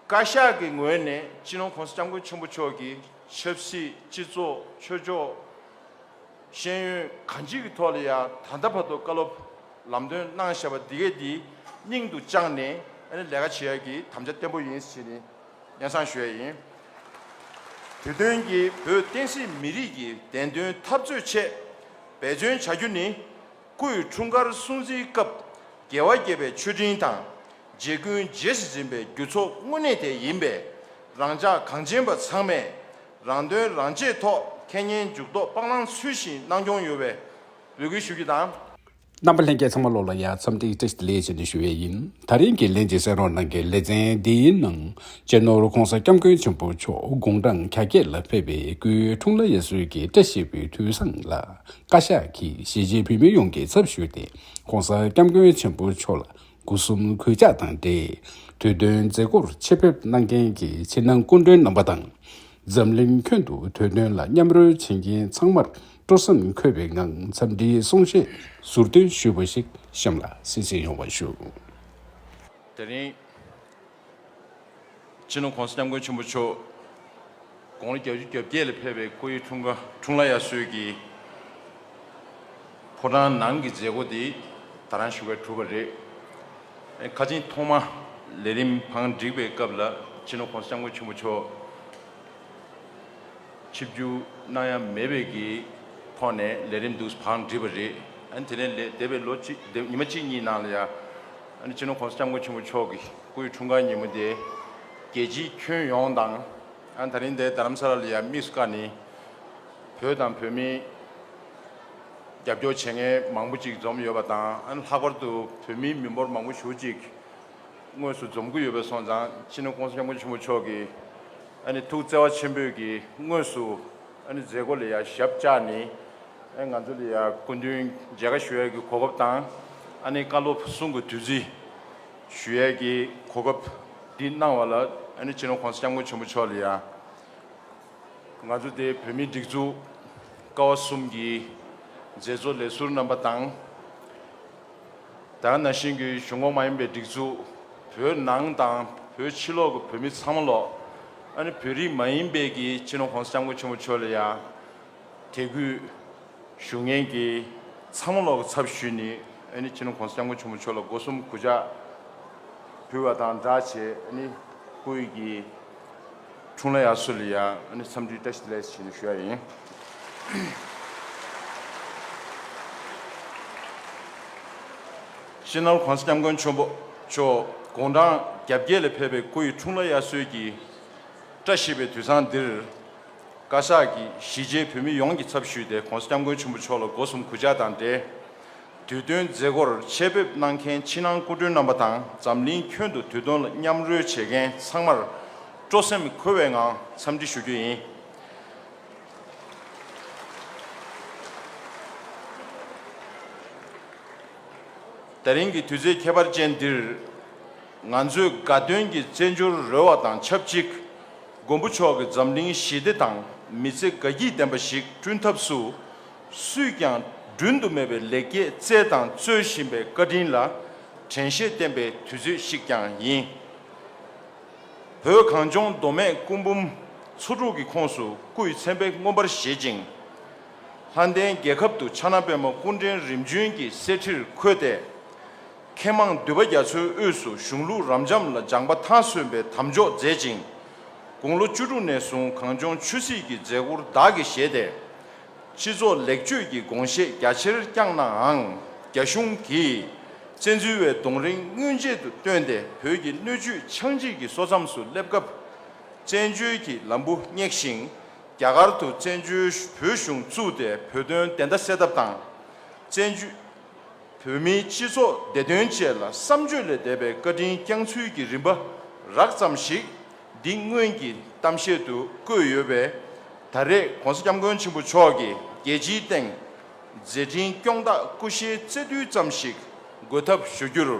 བཀའ་ཤག་གི་ངོས་ནས་སྤྱི་ནོར ྋགོང་ས ྋསྐྱབས་མགོན་ཆེན་པོ་མཆོག་གི་ཆབ་སྲིད་སྤྱི་ཚོགས་ཆོས་ཕྱོགས་ཤེས་ཡོན་གང་ཅི་གི་ཐོག་ལ་ཡང་ད་ལྟ་བར་དུ་བཀའ་སློབ་ལམ་སྟོན་གནང་བཞག་པ་འདི་གའི་འདི་སྙིང་དུ་བཅངས་ནས་ཨ་ནི་ལས་ཀ་བྱེད་ཡག་གི་དམ་བཅའ་བརྟན་པོ་ཡིན་ཞེས་ནི་སྙན་གསང་ཞུ་ཡ་ཡིན། དུས་སྟོན་གྱི་བོད་བསྟན་སྲིད་མི་རིགས་ཀྱི་བདེན་དོན་འཐབ་རྩོད་ཆེད་འབད་བརྩོན་བྱ་རྒྱུ་ནི་སྐུའི་འཁྲུངས་སྐར་སྲུང་བརྩིའི་སྐབས་རྒྱལ་བ་དགྱེས་པའི་མཆོད་སྤྲིན་དང། རྗེ་ཀུན་རྗེས་སུ་འཛིན་པའི་རྒྱུ་ཚོགས་དངོས་གནས་དེ་ཡིན་པས། རང་ཅག་གངས་ཅན་པ་ཚང་མས་རང་དོན་རང་གཅེས་ཐོག་ཁེ་ཉེན་འཇུག་ལྡོག་སྤང་བླང་ཚུལ་བཞིན་གནང་སྐྱོང་ཡོད་བའི་འབོད་སྐུལ་ཞུ་རྒྱུ་དང། རྣམ་པ་ལྷན་རྒྱས་ཚང་མ་བློ་ལ་ཡ་མཚམས་སྟེགས་བཀྲ་ཤིས་ལེགས་བྱས་ནས་ཞུ་བས་ཡིན། ད་རིང་གི་ལན་གཅིག་གསན་རོགས་གནང་གི་ལེ་ཚན་འདིའི་ནང་གཅེས་ནོར ྋགོང་ས ྋསྐྱབས་མགོན་ཆེན་པོ་མཆོག་དགུང་གྲངས་གྱ་བརྒྱད་ལ་ཕེབས་པའི་སྐུའི་འཁྲུངས་ལ་ཡ་གཟོད་ཀྱི་བཀྲ་ཤིས་པའི་དུས་བཟང་ལ་བཀའ་ཤག་གིས་གཞིས་བྱེས་བོད་མི་ཡོངས་ཀྱི་ཚབ་ཞུས་ཏེ ྋགོང་ས ྋསྐྱབས་མགོན་ཆེན་པོ་མཆོག་ལ་དགུ་གསུམ་གུས་ཕྱག་དང་འབྲེལ་དུས་སྟོན་མཛད་སྒོར་ཆེད་ཕེབས་གནང་མཁན་གྱི་ཕྱི་ནང་སྐུ་མགྲོན་རྣམ་པ་དང། འཛམ་གླིང་ཁྱོན་དུ་དུས་སྟོན་ལ་མཉམ་རོལ་བྱེད་མཁན་ཚང་མར་སྤྲོ་སེམས་འཁོལ་བའི་ངང་འཚམས་འདྲིའི་གསུང་བཤད་ཟུར་བཏོན་ཞུས་པ་ཞིག་གཤམ་ལ་གསལ་བཤད་ཡོང་བ་ཞུ། དེ་རིང། སྤྱི་ནོར ྋགོང་ས ྋསྐྱབས་མགོན་ཆེན་པོ་མཆོག་དགུང་ལོ་གྱ་བཅུ་གྱ་བརྒྱད་ལ་ཕེབས་པའི་སྐུ་ཡི་འཁྲུངས་སྐར་འཁྲུངས་ལ་ཡར་སྲོལ་གྱི་ཕོ་བྲང་ནང་གི་མཛད་སྒོ་དེ་ད་རང་བཞུགས་སྒར་གྲུབ་པ་རེད། ཁ་ཆེན་ཐོག་མ་ལས་རིམ་བང་བསྒྲིགས་པའི་སྐབས་ལ་སྤྱི་ནོར ྋགོང་ས ྋསྐྱབས་མགོན་ཆེན་པོ་མཆོག་ཆིབས་བསྒྱུར་གནང་ཡ་མེད་པའི་གི་ཐོག་ནས་ལས་རིམ་འདུག་བང་བསྒྲིགས་པ་རེད། དེ་ནས་ལས་འདས་པའི་ལོ་གཅིག་ཉི་མ་གཅིག་གཉིས་ནང་ལ་ཡ། སྤྱི་ནོར ྋགོང་ས ྋསྐྱབས་མགོན་ཆེན་པོ་མཆོག་གི་སྐུའི་འཁྲུངས་སྐར་ཉིན་མོ་དེ་རྒྱལ་སྤྱིའི་ཁྱོན་ཡོངས་དང། ད་རིང་འདས་རྡ་རམ་ས་ལ་ལ་ཡ་དམིགས་སུ་བཀར་ནས་བོད་དང་བོད་མིའི་རྒྱབ་སྐྱོར་བྱེད་མཁན་མང་པོ་ཅིག་འཛོམས་ཡོད་པ་དང་ལྷག་པར་དུ་བོད་མིའི་མི་འབོར་མང་པོ་ཞུགས་ཅིག་དངོས་སུ་འཛོམས་ཀྱི་ཡོད་པ་སོང་ཙང་སྤྱི་ནོར ྋགོང་ས ྋསྐྱབས་མགོན་ཆེན་པོ་མཆོག་གི་ཐུགས་བརྩེ་བ་ཆེན་པོས་ཀྱི་དངོས་སུ། མཛད་སྒོ་ལ་ཡང་ཞབས་བཅགས་ནས་ང་ཚོ་ལ་ཡང་སྐུ་མདུན་མཇལ་ཁ་ཞུ་ཡས་ཀྱི་གོ་སྐབས་དང། བཀའ་སློབ་གསུང་གི་དུས་ཚིགས་ཞུ་ཡས་ཀྱི་གོ་སྐབས་འདི་གནང་བ་ལ་སྤྱི་ནོར ྋགོང་ས ྋསྐྱབས་མགོན་ཆེན་པོ་མཆོག་ལ་ཡང་ང་ཚོ་སྡེ་བོད་མིའི་སྒྲིག་འཛུགས་ཀ་བ་གསུམ་གྱི་མཛད་གཙོ་ལས་ཟུར་རྣམ་པ་དང། དང་ན་ཤིང་གི་གཞུང་ངོ་མ་ཡིན་པའི་སྒྲིག་འཛུགས་བོད་ནང་དང་བོད་ཕྱི་ལོག་གི་བོད་མི་ཚང་མ་ལོག་ཨ་ནི་བོད་རིགས་མ་ཡིན་པའི་གི་སྤྱི་ནོར་གོང་ས་སྐྱབས་མགོན་ཆེན་པོ་མཆོག་ལ་ཡང་དད་གུས་ཞུ་ངེས་ཀྱི་ཚང་མ་ལོག་གི་ཚབ་ཞུས་ནི་ཨ་ནི་སྤྱི་ནོར་གོང་ས་སྐྱབས་མགོན་ཆེན་པོ་མཆོག་ལ་སྒོ་གསུམ་གུས་ཕྱག་ཕུལ་བ་དང་འདྲ་བྱེད་ཨ་ནི་སྐུ་ཡི་གི། ཁྲུང་ལ་ཡ་སུ་ལི་ཡ་ནི་འཚམས་འདྲིའི་བཀྲ་ཤིས་ལེགས་སོ་ཞེས་ནི་ཞུ་ཡ་ཡིན། ཤིས་ནོར་གོང་ས་སྐྱབས་མགོན་ཆོན་པོ་མཆོག་དགུང་གྲངས་གྱ་བརྒྱད་ལ་ཕེབས་པའི་སྐུ་ཡི་ཁྲུང་ལ་ཡ་སུའི་གྱི་བཀྲ་ཤིས་པའི་དུས་བཟང་འདིར། བཀའ་ཤག་གིས་གཞིས་བྱེས་བོད་མི་ཡོངས་ཀྱི་ཚབ་ཞུས་ཏེ་གོང་ས་སྐྱབས་མགོན་ཆོན་པོ་མཆོག་ལ་སྒོ་གསུམ་གུས་ཕྱག་དང་འབྲེལ། དུས་སྟོན་མཛད་སྒོར་ཆེད་ཕེབས་གནང་མཁན་ཕྱི་ནང་སྐུ་མགྲོན་རྣམ་པ་དང་འཛམ་གླིང་ཁྱོན་དུ་དུས་སྟོན་ལ་མཉམ་རོལ་བྱེད་མཁན་ཚང་མར་སྤྲོ་སེམས་འཁོལ་བའི་ངང་འཚམས་འདྲི་ཞུ་རྒྱུ་ཡིན། ད་རིང་གི་དུས་ཚོད་ཁྱད་པར་ཅན་འདིར་ང་ཚོས་དགའ་སྟོན་གྱི་རྩེད་འཇོར་རོལ་བ་དང་ཆབས་ཅིག་མགོན་པོ་མཆོག་གི་འཛམ་གླིང་ཞི་བདེ་དང་མི་ཚེ་དགའ་སྐྱིད་ལྡན་པ་ཞིག་བསྐྲུན་ཐབས་སུ། སུས་ཀྱང་བསྒྲུན་དུ་མེད་པའི་ལེགས་སྐྱེས་བསྩལ་དང་སྩོལ་བཞིན་པའི་བཀའ་དྲིན་ལ་དྲན་ཤེས་བརྟན་པའི་དུས་ཚོད་ཤིག་ཀྱང་ཡིན། བོད་གངས་ལྗོངས་མདོ་སྨད་སྐུ་འབུམ་ཚོ་དྲུག་གི་ཁོངས་སུ་སྐུའི་མཚན་དཔེ་མངོན་པར་བཞེད་ཅིང། ལྷ་ལྡན་རྒྱལ་ཁབ་ཏུ་ཕྱག་ན་པད་མ་སྐུ་འཕྲེང་རིམ་བྱོན་གྱི་གསེར་ཁྲིར་འཁོད་དེ། མཁས་མང་འདུས་པ་རྒྱ་མཚོའི་དབུས་སུ་གཞུང་ལུགས་རབ་འབྱམས་ལ་སྦྱངས་པ་མཐའ་སོན་པའི་དམ་འཇོག་མཛད་ཅིང། དགུང་ལོ་བཅུ་དྲུག་ནས་བཟུང་གངས་ལྗོངས་ཆོས་སྲིད་ཀྱི་མཛད་སྒོར་བདག་གིས་བཞེས་ཏེ། སྤྱི་ཚོགས་ལེགས་བཅོས་ཀྱི་དགོངས་བཞེད་རྒྱ་ཆེར་བསྐྱངས་ནའང་རྒྱ་གཞུང་གིས་བཙན་འཛུལ་བའི་གདོང་རིང་དངོས་ཆེད་དུ་བཏོན་ཏེ་བོད་ཀྱི་སྣོད་བཅུད་ཆང་འཇིག་གི་སོ་མཚམས་སུ་སླེབས་སྐབས། བཙན་བྱོལ་གྱི་ལམ་བུ་བསྙེགས་ཤིང་རྒྱ་གར་དུ་བཙན་བྱོལ་བོད་གཞུང་བཙུགས་ཏེ་བོད་དོན་བདེན་མཐའ་སེལ་ཐབས་དང། བཙན་བྱོལ་བོད་མིའི་སྤྱི་ཚོགས་བདེ་དོན་བཅས་ལ་བསམ་བརྗོད་ལས་འདས་པའི་བཀའ་དྲིན་བསྐྱངས་ཚུལ་གྱི་རིམ་པ་རགས་ཙམ་ཞིག། འདི་སྔོན་གྱི་གཏམ་བཤད་དུ་བཀོད་ཡོད་པས་ད་རེས ྋགོང་ས ྋསྐྱབས་མགོན་ཆེན་པོ་མཆོག་གིས་རྒྱལ་སྤྱིའི་སྟེང་མཛད་འཕྲིན་སྐྱོང་སྟག་སྐུ་ཤའི་བརྩེ་རྡུལ་ཙམ་ཞིག་འགོད་ཐབས་ཞུ་རྒྱུར།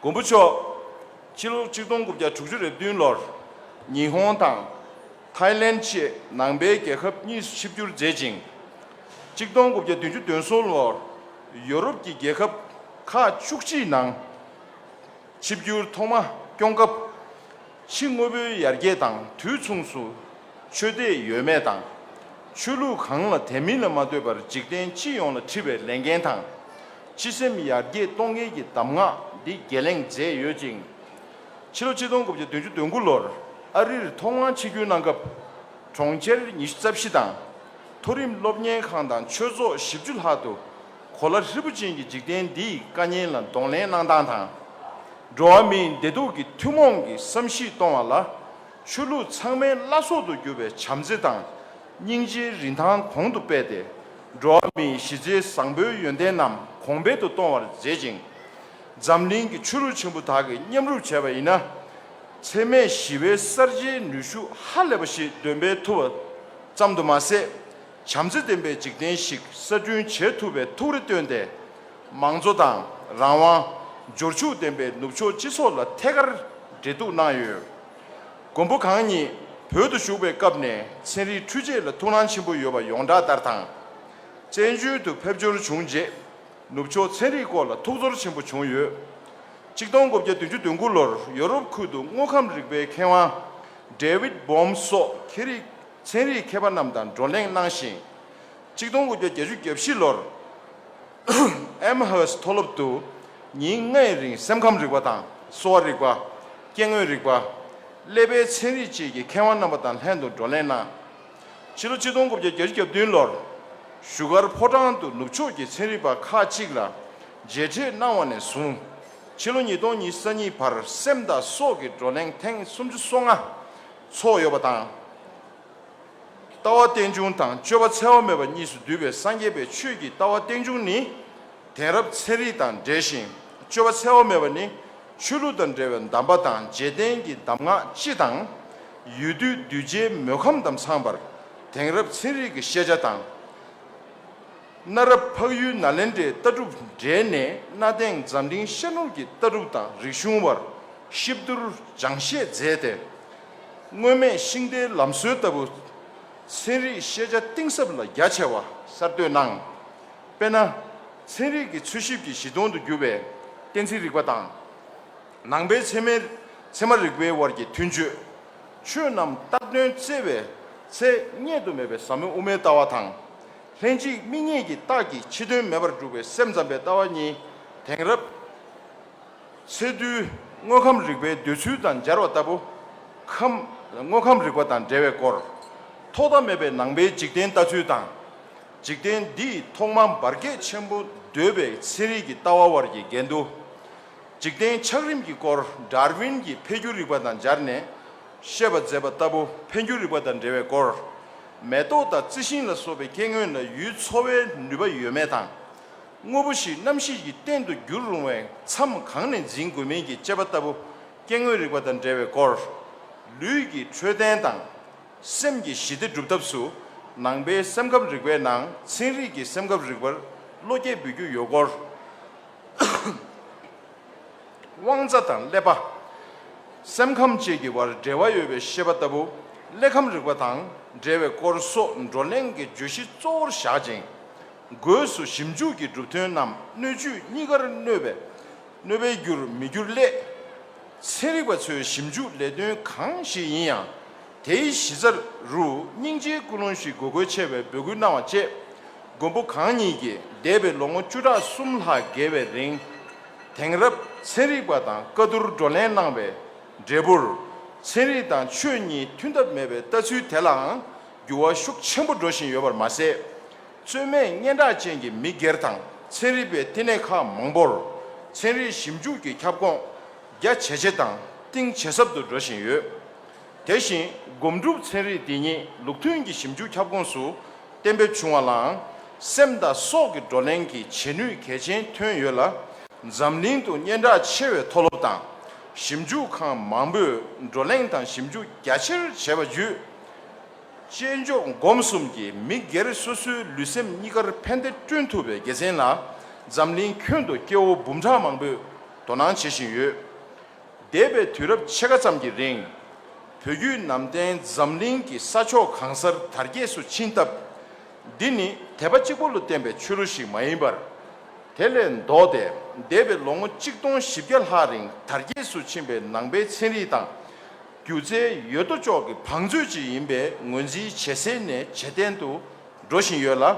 མགོན་པོ་མཆོག་ཕྱི་ལོ་ཆིག་སྟོང་དགུ་བརྒྱ་དྲུག་ཅུ་རེ་བདུན་ལོར་ཉི་ཧོང་དང་ཐཱའི་ལེན་བཅས་ནང་པའི་རྒྱལ་ཁབ་གཉིས་སུ་ཆིབས་བསྒྱུར་མཛད་ཅིང། ཆིག་སྟོང་དགུ་བརྒྱ་བདུན་ཅུ་དོན་གསུམ་ལོར་ཡོ་རོབ་ཀྱི་རྒྱལ་ཁབ་ཁག་བཅུ་གཅིག་ནང། ཆིབས་བསྒྱུར་ཐོག་མ་སྐྱོང་སྐབས། ཕྱི་དངོས་པོའི་ཡར་རྒྱས་དང་དུས་མཚུངས་སུ། ཆོས་དད་ཡོད་མེད་དང། ཆོས་ལུགས་གང་ལ་དད་མིན་ལ་མ་ལྟོས་པར་འཇིག་རྟེན་སྤྱི་ཡོངས་ལ་འཁྲི་བའི་ལས་འགན་དང། སྤྱི་སེམས་ཡར་རྒྱས་གཏོང་མཁན་གྱི་གདམས་ངག་འདི་བརྒལ་ལེང་མཛད་ཡོད་ཅིང། ཕྱི་ལོ་ཆིག་སྟོང་དགུ་བརྒྱ་བདུན་ཅུ་དོན་དགུ་ལོར་ཨ་རིར་ཐོག་མར་ཆིབས་བསྒྱུར་གནང་སྐབས། གྲོང་ཁྱེར་ཉི་ཤུ་རྩ་བཞི་དང། མཐོ་རིམ་སློབ་གཉེར་ཁང་དང་ཆོས་ཚོགས་བཞི་བཅུ་ལྷག་ཏུ། གོ་ལ་ཧྲིལ་པོ་ཅན་གྱི་འཇིག་རྟེན་འདིའི་དཀའ་ཉེན་ལ་གདོང་ལེན་གནང་སྟངས་དང། འགྲོ་བ་མིའི་བདེ་སྡུག་གི་ཐུན་མོང་གི་བསམ་གཞིག་གཏོང་བ་ལ། ཆོས་ལུགས་ཚང་མའི་བླ་སྲོག་ཏུ་གྱུར་པའི་བྱམས་བརྩེ་དང་སྙིང་རྗེའི་རིན་ཐང་གོང་དུ་སྤེལ་ཏེ། འགྲོ་བ་མིའི་གཞི་རྩའི་བཟང་པོའི་ཡོན་ཏན་རྣམས་གོང་འཕེལ་དུ་གཏོང་བར་མཛད་ཅིང། འཛམ་གླིང་གི་ཆོས་ལུགས་ཆེན་པོ་དག་གིས་མཉམ་རུབ་བྱས་པ་ཡིན་ན། འཚེ་མེད་ཞི་བའི་གསར་བརྗེའི་ནུས་ཤུགས་ཧ་ལས་པ་ཞིག་འདོན་སྤེལ་ཐུབ་པ་ཙམ་དུ་མ་ཟད། བྱམས་བརྩེ་ལྡན་པའི་འཇིག་རྟེན་ཞིག་གསར་སྐྲུན་བྱེད་ཐུབ་པའི་ཐུགས་རེ་བཏོན་ཏེ། མང་གཙོ་དང་རང་དབང། འབྱོར་ཕྱུག་ལྡན་པའི་ནུབ་ཕྱོགས་སྤྱི་ཚོགས་ལ་ཐད་ཀར་འབྲེལ་གཏུག་གནང་ཡོད། མགོན་པོ་གང་ཉིད་བོད་དུ་བཞུགས་པའི་སྐབས་ནས་ཚན་རིག་འཕྲུལ་ཆས་ལ་ཐུགས་སྣང་ཆེན་པོ་ཡོད་པ་ཡོངས་གྲགས་ལྟར་དང། བཙན་བྱོལ་དུ་ཕེབས་འབྱོར་བྱུང་རྗེས་ནུབ་ཕྱོགས་ཚན་རིག་སྐོར་ལ་ཐུགས་ཚོར་ཆེན་པོ་བྱུང་ཡོད། གཅིག་སྟོང་དགུ་བརྒྱ་བདུན་ཅུ་དོན་དགུ་ལོར་ཡོ་རོབ་ཁུལ་དུ་དངོས་ཁམས་རིག་པའི་མཁས་དབང David Bohm སོགས་ཁེ་རིགས་ཚན་རིག་མཁས་པ་རྣམས་དང་བགྲོ་གླེང་གནང་ཞིང། གཅིག་སྟོང་དགུ་བརྒྱ་བརྒྱད་ཅུ་གྱ་བཞི་ལོར། Amherst མཐོ་སློབ་ཏུ། ཉིན་ལྔའི་རིང་སེམས་ཁམས་རིག་པ་དང་གསོ་བ་རིག་པ། སྐྱེ་དངོས་རིག་པ། ཀླད་པའི་ཚན་རིག་བཅས་ཀྱི་མཁས་དབང་རྣམ་པ་དང་ལྷན་དུ་བགྲོ་གླེང་གནང། ཕྱི་ལོ་གཅིག་སྟོང་དགུ་བརྒྱ་བརྒྱད་ཅུ་གྱ་བདུན་ལོར། བཞུགས་སྒར་ཕོ་བྲང་དུ་ནུབ་ཕྱོགས་ཀྱི་ཚན་རིག་པ་ཁག་གཅིག་ལ་མཇལ་འཕྲད་གནང་བ་ནས་བཟུང། ཕྱི་ལོ་ཉིས་སྟོང་ཉིས་ས་གཉིས་བར་སེམས་དང་སྲོག་གི་བགྲོ་གླེང་ཐེངས་སུམ་ཅུ་སོ་ལྔ། ཚོགས་ཡོད་པ་དང། ལྟ་བ་རྟེན་འབྱུང་དང་སྤྱོད་པ་འཚལ་བ་མེད་པ་གཉིས་སུ་བསྡུས་པའི་སངས་རྒྱས་པའི་ཆོས་ཀྱི་ལྟ་བ་རྟེན་འབྱུང་ནི། དེང་རབས་ཚན་རིག་དང་འབྲེལ་ཞིང་སྤྱོད་པ་འཚལ་བ་མེད་པ་ནི། ཆོས་ལུགས་དང་འབྲེལ་བའི་གདམས་པ་དང་རྗེས་བསྟན་གྱི་གདམས་ངག་སྤྱི་དང། ཡུལ་དུས་གདུལ་བྱའི་མོས་ཁམས་དམ་ཚངས་པར་དེང་རབས་ཚན་རིག་གི་ཤེས་བྱ་དང། གནའ་རབས་འཕགས་ཡུལ་ནཱ་ལེནྡྲའི་ལྟ་གྲུབ་འབྲེལ་ནས་གནའ་དེང་འཛམ་གླིང་ཤར་ནུབ་ཀྱི་ལྟ་གྲུབ་དང་རིག་གཞུང་བར་གཤིབ་བསྡུར་སྦྱངས་བཤད་མཛད་དེ། སྔོན་མེད་ཤིང་རྟའི་ལམ་སྲོལ་ལྟ་བུ། ཚན་རིག་ཤེས་བྱ་གཏིང་ཟབ་ལ་རྒྱ་ཆེ་བ་གསར་གཏོད་གནང། དཔེར་ན། ཚན་རིག་གི་འཚོལ་ཞིབ་ཀྱི་གཞི་སྟོང་དུ་གྱུར་པའི་གཏན་ཚིགས་རིག་པ་དང། ནང་པའི་ཚད་མའི་ཚད་མ་རིག་པའི་དབར་གྱི་མཐུན་སྤྱོད། ཆོས་རྣམས་རྟག་དོན་བརྩེ་བའི་ཚེ་སྙེག་ཏུ་མེད་པའི་ཟབ་མོ་དབུ་མའི་ལྟ་བ་དང། ལྷན་ཅིག་དམིགས་མྱེད་ཀྱི་རྟགས་ཀྱིས་ཕྱི་དོན་མེད་པར་བསྒྲུབ་པའི་སེམས་ཙམ་པའི་ལྟ་བ་གཉིས་དེང་རབས་ཚེ་འདུལ་དངོས་ཁམས་རིག་པའི་འདོད་ཚུལ་དང་སྦྱར་བ་ལྟ་བུ། དངོས་ཁམས་རིག་པ་དང་འབྲེལ་བའི་སྐོར། ཐོག་མཐའ་མེད་པའི་ནང་པའི་འཇིག་རྟེན་ལྟ་ཚུལ་དང། འཇིག་རྟེན་འདི་ཐོག་མ་འབར་གས་ཆེན་པོ་འདོད་པའི་ཚན་རིག་གི་ལྟ་བ་བར་གྱི་འགལ་འདུ། འཇིག་རྟེན་ཆགས་རིམ་གྱི་སྐོར་དྲཱར་ཝིན་གྱི་འཕེལ་འགྱུར་རིག་པ་དང་སྦྱར་ནས་བཤད་པ་མཛད་པ་ལྟ་བུ་འཕེལ་འགྱུར་རིག་པ་དང་འབྲེལ་བའི་སྐོར། མེ་ཏོག་དང་རྩི་ཤིང་ལ་སོགས་པའི་སྐྱེ་དངོས་ལ་ཡུལ་འཚོ་བའི་ནུས་པ་ཡོད་མེད་དང། དངོས་པོ་ཞིག་རྣམ་ཤེས་ཀྱི་རྟེན་དུ་འགྱུར་རུང་བའི་མཚམས་གང་ནས་འཛིན་དགོས་མིན་གྱི་དཔྱད་པ་ལྟ་བུ་སྐྱེ་དངོས་རིག་པ་དང་འབྲེལ་བའི་སྐོར། ལུས་ཀྱི་འཕྲོད་བསྟེན་དང། སེམས་ཀྱི་ཞི་བདེ་སྒྲུབ་ཐབས་སུ་ནང་པའི་སེམས་ཁམས་རིག་པའི་ནང་ཚན་རིག་གི་སེམས་ཁམས་རིག་པར་བློ་སྐྱེད་འབུལ་རྒྱུ་ཡོད་སྐོར། དབང་རྩ་དང་ཀླད་པ། སེམས་ཁམས་བཅས་ཀྱི་བར་འབྲེལ་བ་ཡོད་པའི་ཤེས་པ་ལྟ་བུ་གླེགས་བམ་རིག་པ་དང་འབྲེལ་བའི་སྐོར་སོགས་བགྲོ་གླེང་གི་བརྗོད་གཞི་གཙོ་བོར་བཞག་ཅིང། སྒོས་སུ་ཞིབ་འཇུག་གི་གྲུབ་དོན་རྣམས་སྣོད་བཅུད་གཉིས་ཀར་གནོད་པའི་གནོད་པའི་རྒྱུར་མི་འགྱུར་སླད། ཚན་རིག་པ་ཚོའི་ཞིབ་འཇུག་ལས་དོན་གང་ཞིག་ཡིན་ཡང་དེའི་གཞི་རྩ་རུ་སྙིང་རྗེའི་ཀུན་སློང་ཞིག་དགོས་གལ་ཆེ་བའི་འབོད་སྐུལ་གནང་བ་བཅས། མགོན་པོ་གང་ཉིད་ཀྱིས་འདས་པའི་ལོ་ངོ་བཅུ་ཕྲག་གསུམ་ལྷག་བརྒལ་བའི་རིང། དེང་རབས་ཚན་རིག་པ་དང་བཀའ་བསྡུར་བགྲོ་གླེང་གནང་བའི་འབྲས་བུར། ཚན་རིག་དང་ཆོས་གཉིས་མཐུན་ཐབས་མེད་པའི་ལྟ་ཚུལ་དེ་ལའང་འགྱུར་བ་ཤུགས་ཆེན་པོ་འགྲོ་བཞིན་ཡོད་པར་མ་ཟད། རྩོད་མེད་སྙན་གྲགས་ཅན་གྱི་མི་སྒེར་དང་ཚན་རིག་པའི་བསྟི་གནས་ཁག་མང་པོར། ཚན་རིག་ཞིབ་འཇུག་གི་ཁྱབ་ཁོངས་རྒྱ་ཇེ་ཆེ་དང་གཏིང་ཇེ་ཟབ་ཏུ་འགྲོ་བཞིན་ཡོད། དེ་བཞིན་སྒོམ་སྒྲུབ་ཚན་རིག་དེ་ཉིད་ལུགས་མཐུན་གྱི་ཞིབ་འཇུག་ཁྱབ་ཁོངས་སུ་གཏན་འབེབས་བྱུང་བ་ལའང་སེམས་དང་སྲོག་གི་བགྲོ་གླེང་གི་བྱེད་ནུས་གལ་ཆེན་ཐོན་ཡོད་ལ། འཛམ་གླིང་དུ་སྙན་གྲགས་ཆེ་བའི་མཐོ་སློབ་དང་ཞིབ་འཇུག་ཁང་མང་པོས་བགྲོ་གླེང་དང་ཞིབ་འཇུག་རྒྱ་ཆེར་བྱས་པ་བརྒྱུད། དཔྱད་འཇོག་སྒོམ་གསུམ་གྱིས་མི་སྒེར་སོ་སོའི་ལུས་སེམས་གཉིས་ཀར་ཕན་བདེ་བསྐྲུན་ཐུབ་པའི་དགེ་མཚན་ལ་འཛམ་གླིང་ཁྱོན་དུ་སྐྱེ་བོ་འབུམ་ཕྲག་མང་པོས་དོ་སྣང་བྱེད་བཞིན་ཡོད། འདས་པའི་དུས་རབས་ཕྱེད་ཀ་ཙམ་གྱི་རིང། བོད་བརྒྱུད་ནང་བསྟན་འཛམ་གླིང་གི་ས་ཕྱོགས་གང་སར་དར་རྒྱས་སུ་ཕྱིན་སྟབས། འདི་ནི་དད་པ་གཅིག་པུ་ལ་བརྟེན་པའི་ཆོས་ལུགས་ཤིག་མ་ཡིན་པར། དེ་ལས་ལྡོག་སྟེ་འདས་པའི་ལོ་ངོ་གཅིག་སྟོང་བཞི་བརྒྱ་ལྷག་རིང་དར་རྒྱས་སུ་ཕྱིན་པའི་ནང་པའི་ཚན་རིག་དང། སྒྱུ་རྩལ་ཡོད་དོ་ཅོག་གི་བང་མཛོད་ཅིག་ཡིན་པའི་ངོས་འཛིན་ཇེ་གསལ་ནས་ཇེ་བརྟན་དུ་འགྲོ་བཞིན་ཡོད་ལ།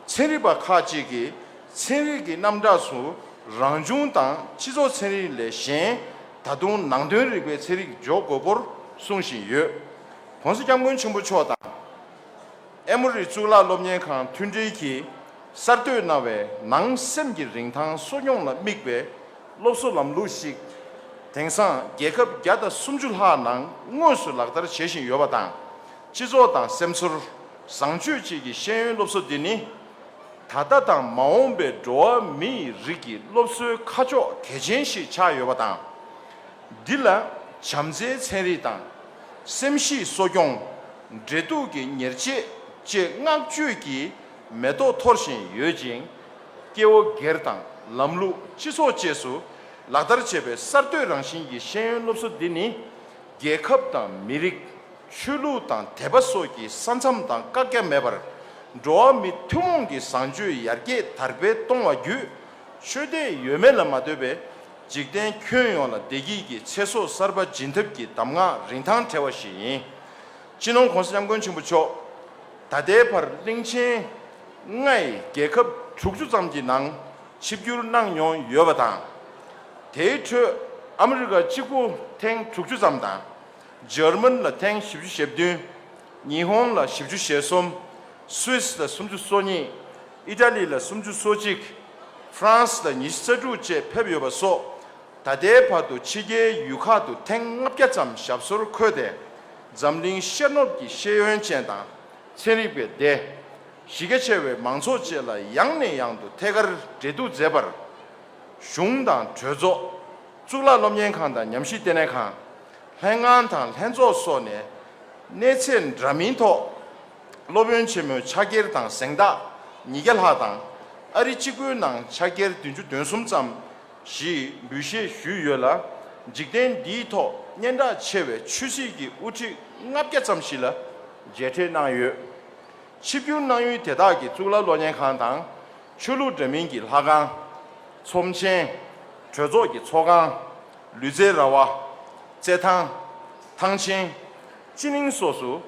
ཚན་རིག་པ་ཁག་ཅིག་གིས། ཚན་རིག་གི་རྣམ་གྲངས་སུ་རང་བྱུང་དང་སྤྱི་ཚོགས་ཚན་རིག་ལས་གཞན་ད་དུང་ནང་དོན་རིག་པའི་ཚན་རིག་འཇོག་དགོས་སྐོར་གསུང་བཞིན་ཡོད། གོང་ས་སྐྱབས་མགོན་ཆེན་པོ་མཆོག་དང། ཨེ་མོ་རི་གཙུག་ལག་སློབ་གཉེར་ཁང་མཐུན་སྒྲིལ་གྱིས་གསར་གཏོད་གནང་བའི་ནང་སེམས་ཀྱི་རིན་ཐང་གསོ་སྐྱོང་ལ་དམིགས་པའི་སློབ་གསོ་ལམ་ལུགས་ཤིག་དེང་སང་རྒྱལ་ཁབ་བརྒྱ་དང་སུམ་ཅུ་ལྷག་ནང་དངོས་སུ་ལག་བསྟར་བྱེད་བཞིན་ཡོད་པ་དང། སྤྱི་ཚོགས་དང་སེམས་ཚོར་བཟང་སྤྱོད་བཅས་ཀྱི་ཤེས་ཡོན་སློབ་གསོ་འདི་ནི། ད་ལྟ་དང་མ་འོངས་པའི་འགྲོ་བ་མི་ཡི་རིགས་ཀྱི་སློབ་གསོའི་ཁ་ཕྱོགས་གལ་ཆེན་ཞིག་ཆགས་ཡོད་པ་དང། འདི་ལ་བྱམས་བརྩེའི་ཚན་རིག་དང། སེམས་གཤིས་གསོ་སྐྱོང། འབྲེལ་གཏུག་གི་ཉེར་སྤྱད་བཅས་བསྔགས་བརྗོད་ཀྱི་མེ་ཏོག་འཐོར་བཞིན་ཡོད་ཅིང། སྐྱེ་བོ་སྒེར་དང་ལམ་ལུགས་སྤྱི་ཚོགས་བཅས་སུ་ལག་བསྟར་བྱེད་པའི་གསར་གཏོད་རང་བཞིན་གྱི་ཤེས་ཡོན་སློབ་གསོ་འདི་ནི། རྒྱལ་ཁབ་དང་མི་རིགས། ཆོས་ལུགས་དང་དད་པ་སོགས་ཀྱི་ས་མཚམས་དང་བཀག་རྒྱ་མེད་པར། འགྲོ་བ་མི་ཐུན་མོང་གི་བཟང་སྤྱོད་ཡར་རྒྱས་དར་སྤེལ་གཏོང་བ་བརྒྱུད། ཆོས་དད་ཡོད་མེད་ལ་མ་ལྟོས་པའི། འཇིག་རྟེན་ཁྱོན་ཡོངས་ལ་བདེ་སྐྱིད་ཀྱི་ཚེ་སྲོག་གསར་པ་སྦྱིན་ཐབས་ཀྱི་གདམས་ངག་རིན་ཐང་བྲལ་བ་ཞིག་ཡིན། སྤྱི་ནོར ྋགོང་ས ྋསྐྱབས་མགོན་ཆེན་པོ་མཆོག་ད་ལྟའི་བར་གླིང་ཆེན ྋརྒྱལ་ཁབ་དྲུག་ཅུ་ཙམ་གྱི་ནང་ཆིབས་བསྒྱུར་གནང་མྱོང་ཡོད་པ་དང། དེའི་ཁྲོད་ཨ་མི་རི་ཀ་གཅིག་པུ་ཐེངས་དྲུག་ཅུ་ཙམ་དང། ཇར་མན་ལ་ཐེངས་བཞི་བཅུ་ཞེ་བདུན། ཉི་ཧོང་ལ་བཞི་བཅུ་ཞེ་གསུམ། Swiss ལ་སུམ་ཅུ་སོ་གཉིས། Italy ལ་སུམ་ཅུ་སོ་གཅིག། France ལ་ཉི་བཞི་རྩ་དྲུག་བཅས་ཕེབས་ཡོད་པ་སོགས་ད་ལྟའི་བར་དུ་ཕྱི་རྒྱལ་ཡུལ་ཁག་ཏུ་ཐེངས་ལྔ་བརྒྱ་ཙམ་ཞབས་སོར་འཁོད་དེ། འཛམ་གླིང་ཤེས་ནོབ་ཀྱི་ཤེས་ཡོན་ཅན་དང། ཚན་རིག་པའི་སྡེ། གཞི་རྒྱ་ཆེ་བའི་མང་ཚོགས་བཅས་ལ་ཡང་ནས་ཡང་དུ་ཐད་ཀར་འབྲེལ་གཏུག་མཛད་པར། གཞུང་དང་གྲོས་ཚོགས། གཙུག་ལག་སློབ་གཉེར་ཁང་དང་ཉམས་ཞིབ་ལྟེ་གནས་ཁང། ལྷན་ཁང་དང་ལྷན་ཚོགས་སོགས་ནས་གནས་ཚད་འདྲ་མིན་ཐོག་སློབ་དཔོན་ཆེན་མོའི་ཕྱག་འཁྱེར་དང་གཟེངས་རྟགས་ཉིས་བརྒྱ་ལྷག་དང། ཨ་རི་གཅིག་པུའི་ནང་ཕྱག་འཁྱེར་བདུན་ཅུ་དོན་གསུམ་ཙམ་ཞེས་འབུལ་བཞེས་ཞུས་ཡོད་ལ། འཇིག་རྟེན་འདིའི་ཐོག་སྙན་གྲགས་ཆེ་བའི་ཆོས་སྲིད་ཀྱི་དབུ་ཁྲིད་ལྔ་བརྒྱ་ཙམ་ཞིག་ལ་མཇལ་འཕྲད་གནང་ཡོད། ཆིབས་བསྒྱུར་གནང་ཡུལ་དེ་དག་གི་གཙུག་ལག་སློབ་གཉེར་ཁང་དང། ཆོས་ལུགས་འདྲ་མིན་གྱི་ལྷ་ཁང། ཚོམས་ཆེན། གྲོས་ཚོགས་ཀྱི་ཚོགས་ཁང། ལུས་རྩལ་ར་བ། རྩེད་ཐང། ཐང་ཆེན། སྤྱི་གླིང་སོགས་སུ།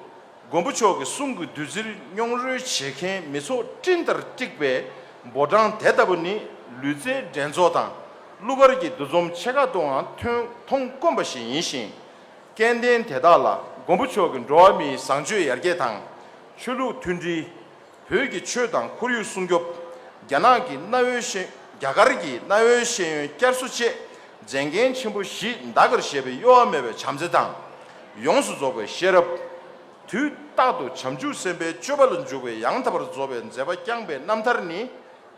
མགོན་པོ་མཆོག་གི་གསུང་གི་བདུད་རྩིར་མྱོང་རོལ་བྱེད་མཁན་མི་ཚོགས་སྤྲིན་ལྟར་དཀྲིགས་པའི་འབོར་གྲངས་དེ་ལྟ་བུ་ནི་ལུས་རྩལ་འགྲན་ཚོགས་དང་གླུ་གར་གྱི་འདུ་འཛོམས་ཆེ་ཁག་ཏུའང་ཐོན་མཐོང་དཀོན་པ་ཞིག་ཡིན་ཞིང། སྐལ་ལྡན་དེ་དག་ལ་མགོན་པོ་མཆོག་གི་འགྲོ་བ་མིའི་བཟང་སྤྱོད་ཡར་རྒྱས་དང། ཆོས་ལུགས་མཐུན་སྒྲིལ། བོད་ཀྱི་ཆོས་དང་ཁོར་ཡུག་སྲུང་སྐྱོབ། རྒྱ་ནག་གི་གནའ་བོའི་ཤེས། རྒྱ་གར་གྱི་གནའ་བོའི་ཤེས་ཡོན་བསྐྱར་གསོ་བཅས་མཛད་འགན་ཆེན་པོ་བཞི་འདའ་ཀར་བཞེས་པའི་གཡོ་བ་མེད་པའི་བྱམས་བརྩེ་དང། ཡོངས་སུ་རྫོགས་པའི་ཤེས་རབ། དུས་རྟག་ཏུ་བྱང་ཆུབ་སེམས་དཔའི་སྤྱོད་པ་ལ་འཇུག་པའི་ཡང་དག་པར་རྫོགས་པའི་མཛད་པ་བསྐྱངས་པའི་རྣམ་ཐར་ནི།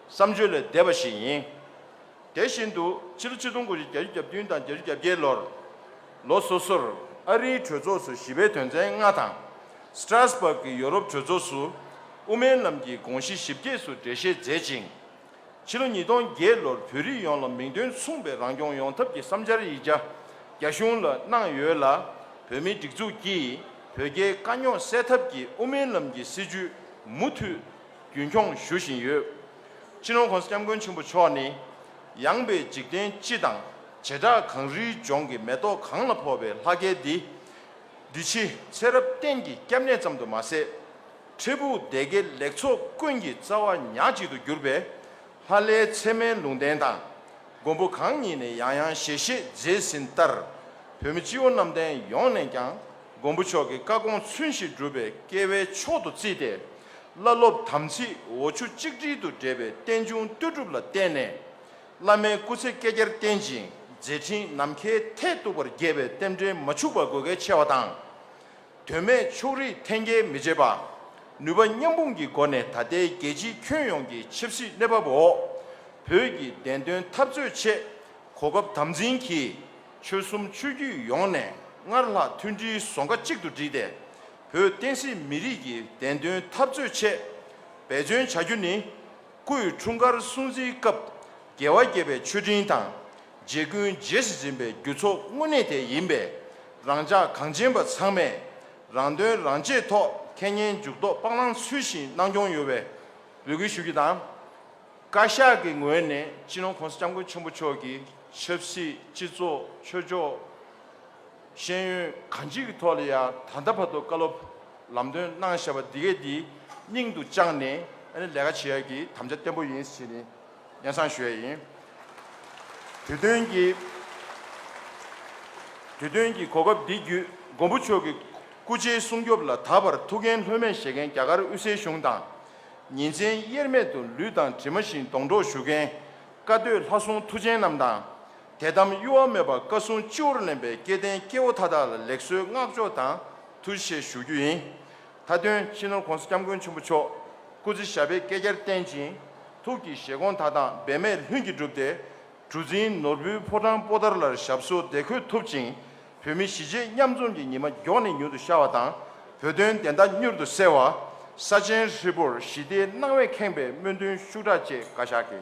བསམ་བརྗོད་ལས་འདས་པ་ཞིག་ཡིན། དེ་བཞིན་དུ་ཕྱི་ལོ་ཆིག་སྟོང་དགུ་བཞི་བརྒྱ་ཅུ་གྱ་བདུན་དང་བརྒྱད་ཅུ་གྱ་བརྒྱད་ལོར་ལོ་སོ་སོར་ཨ་རིའི་གྲོས་ཚོགས་སུ་ཞི་བའི་དོན་ཚན་ལྔ་དང། Strasbourg གྱི་ཡོ་རོབ་གྲོས་ཚོགས་སུ་དབུ་མའི་ལམ་གྱི་དགོངས་གཞི་ཞིབ་རྒྱས་སུ་འགྲེལ་བཤད་མཛད་ཅིང། ཕྱི་ལོ་ཉིས་སྟོང་བརྒྱད་ལོར་བོད་རིགས་ཡོངས་ལ་མིང་དོན་མཚུངས་པའི་རང་སྐྱོང་ཡོང་ཐབས་ཀྱི་བསམ་འཆར་ཡིག་ཆ་རྒྱ་གཞུང་ལ་གནང་ཡོད་ལ། བོད་མིའི་སྒྲིག་འཛུགས་ཀྱིས་བོད་རྒྱའི་དཀའ་རྙོག་སེལ་ཐབས་ཀྱི་དབུ་མའི་ལམ་གྱི་སྲིད་བྱུས་མུ་མཐུད་རྒྱུན་འཁྱོངས་ཞུ་བཞིན་ཡོད། ཕྱི་ནང་གོང་ས་སྐྱབས་མགོན་ཆེན་པོ་མཆོག་ནི། ཡངས་པའི་འཇིག་རྟེན་སྤྱི་དང་བྱེ་བྲག་གངས་རིའི་ལྗོངས་ཀྱི་མེ་ཏོག་གངས་ལ་འཕོ་བའི་ལྷ་སྐལ་འདི། འདི་ཕྱི་ཚེ་རབས་གཏན་གྱི་སྐྱབས་གནས་ཙམ་དུ་མ་ཟད། འཕྲལ་ཕུགས་བདེ་དགེ་ལེགས་ཚོགས་ཀུན་གྱི་རྩ་བ་ཉག་གཅིག་ཏུ་གྱུར་པའི། ལྷ་བླའི་ཚད་མའི་ལུང་བསྟན་དང་མགོན་པོ་གང་ཉིད་ནས་ཡང་ཡང་ཞལ་བཞེས་མཛད་ཟིན་ལྟར། བོད་མི་སྤྱི་བོ་གནམ་བསྟན་ཡོངས་ནས་ཀྱང་མགོན་པོ་མཆོག་གི་བཀའ་དགོངས་ཚུལ་བཞིན་སྒྲུབ་པའི་སྐལ་བའི་མཆོག་ཏུ་བརྩིས་ཏེ། བླ་སློབ་དམ་ཚིག་འོ་ཆུ་གཅིག་དྲིལ་དུ་འདྲེས་པའི་རྟེན་འབྱུང་ལྟོས་གྲུབ་ལ་བརྟེན་ནས། བླ་མའི་སྐུ་ཚེ་བསྐལ་བརྒྱར་བརྟན་ཅིང་མཛད་འཕྲིན་ནམ་མཁའི་མཐས་གཏུགས་པར་རྒྱས་པའི་རྟེན་འབྲེལ་མ་འཕྱུགས་པ་དགོས་གལ་ཆེ་བ་དང། དོན་མེད་ཕྱོགས་རིས་འཐེན་འཁྱེར་མི་བྱེད་པ། ནུས་པ་མཉམ་སྤུངས་ཀྱི་སྒོ་ནས་ད་ལྟའི་རྒྱལ་སྤྱིའི་ཁྱོན་ཡོངས་ཀྱི་ཆབ་སྲིད་གནས་བབ་འོག་བོད་ཀྱི་བདེན་དོན་འཐབ་རྩོད་ཆེད་གོ་སྐབས་དམ་འཛིན་གྱིས། ཆོལ་གསུམ་ཆོས་བརྒྱུད་ཡོངས་ནས་སྔར་ལྷག་མཐུན་སྒྲིལ་ཟོང་ཁ་གཅིག་ཏུ་བསྒྲིལ་ཏེ། བོད་བསྟན་སྲིད་མི་རིགས་ཀྱི་བདེན་དོན་འཐབ་རྩོད་ཆེད་འབད་བརྩོན་བྱ་རྒྱུ་ནི། སྐུའི་འཁྲུངས་སྐར་སྲུང་བརྩིའི་སྐབས་རྒྱལ་བ་དགྱེས་པའི་མཆོད་སྤྲིན་དང། རྗེ་ཀུན་རྗེས་སུ་འཛིན་པའི་རྒྱུ་ཚོགས་དངོས་གནས་དེ་ཡིན་པས། རང་ཅག་གངས་ཅན་པ་ཚང་མས་རང་དོན་རང་གཅེས་ཐོག་ཁེ་ཉེན་མཇུག་རྡོག་སྤང་བླང་ཚུལ་བཞིན་གནང་སྐྱོང་ཡོད་པའི་འབོད་སྐུལ་ཞུ་རྒྱུ་དང། བཀའ་ཤག་གི་ངོས་ནས་སྤྱི་ནོར ྋགོང་ས ྋསྐྱབས་མགོན་ཆེན་པོ་མཆོག་གི་ཆབ་སྲིད་སྤྱི་ཚོགས་ཆོས་ཕྱོགས། ཤེས་ཡོན་གང་ཅིའི་གི་ཐོག་ལ་ཡང་ད་ལྟ་བར་དུ་བཀའ་སློབ་ལམ་སྟོན་གནང་བཞག་པ་འདི་གས་འདི་སྙིང་དུ་བཅངས་ནས་ཨ་ནི་ལས་ཀ་བྱེད་ཡག་གི་དམ་བཅའ་བརྟན་པོ་ཡིན་ཞེས་ནི་ཡན་ཚང་ཞུ་ཡ་ཡིན། དུས་སྟོན་གྱི་དུས་སྟོན་གྱི་གོ་སྐབས་འདི་བརྒྱུད་མགོན་པོ་མཆོག་གི་སྐུ་ཚེའི་སྲུང་སྐྱོབ་ལ་ད་བར་ཐུགས་འགན་ལྷོད་མེད་བཞེས་མཁན་རྒྱ་གར་དབུས་སའི་གཞུང་དང། ཉིན་མཚན་དབྱེར་མེད་དུ་ལུས་དང་གྲིབ་མ་བཞིན་སྡོང་གྲོགས་ཞུ་མཁན་བཀའ་སྡོད་ལྷ་སྲུང་མཐུ་ཆེན་རྣམས་དང། དད་དམ་གཡོ་བ་མེད་པར་བཀའ་སྲུང་སྤྱི་བོར་ལེན་པའི་སྐལ་ལྡན་སྐྱེ་བོ་མཐའ་དག་ལ་ལེགས་གསོལ་བསྔགས་བརྗོད་དང་ཐུགས་ཆེ་ཞུ་རྒྱུ་ཡིན། མཐའ་དོན་ཕྱི་ནང་གོང་ས་སྐྱབས་མགོན་ཆེན་པོ་མཆོག་སྐུ་ཚེ་ཞབས་པད་བསྐལ་བརྒྱར་བརྟན་ཅིང་ཐུགས་ཀྱི་བཞེད་དགོངས་མཐའ་དག་འབད་མེད་ལྷུན་གྱིས་འགྲུབ་སྟེ། གྲུ་རྫིང་ནོར་བུའི་ཕོ་བྲང་སྤོ་དར་ལར་ཞབས་སོར་བདེ་འཁོད་ཐུབ་ཅིང་བོད་མི་གཞིས་བྱེས་མཉམ་འཛོམས་ཀྱི་ཉི་མ་མགྱོགས་ནས་མྱུར་དུ་ཤར་བ་དང་བོད་དོན་བདེན་མཐའ་མྱུར་དུ་གསལ་བ། ས་ཆེན་ཧྲིལ་པོར་ཞི་བདེའི་སྣང་བས་ཁེངས་པའི་སྨོན་འདུན་ཤུགས་དྲག་བཅས་བཀའ་ཤག་གི།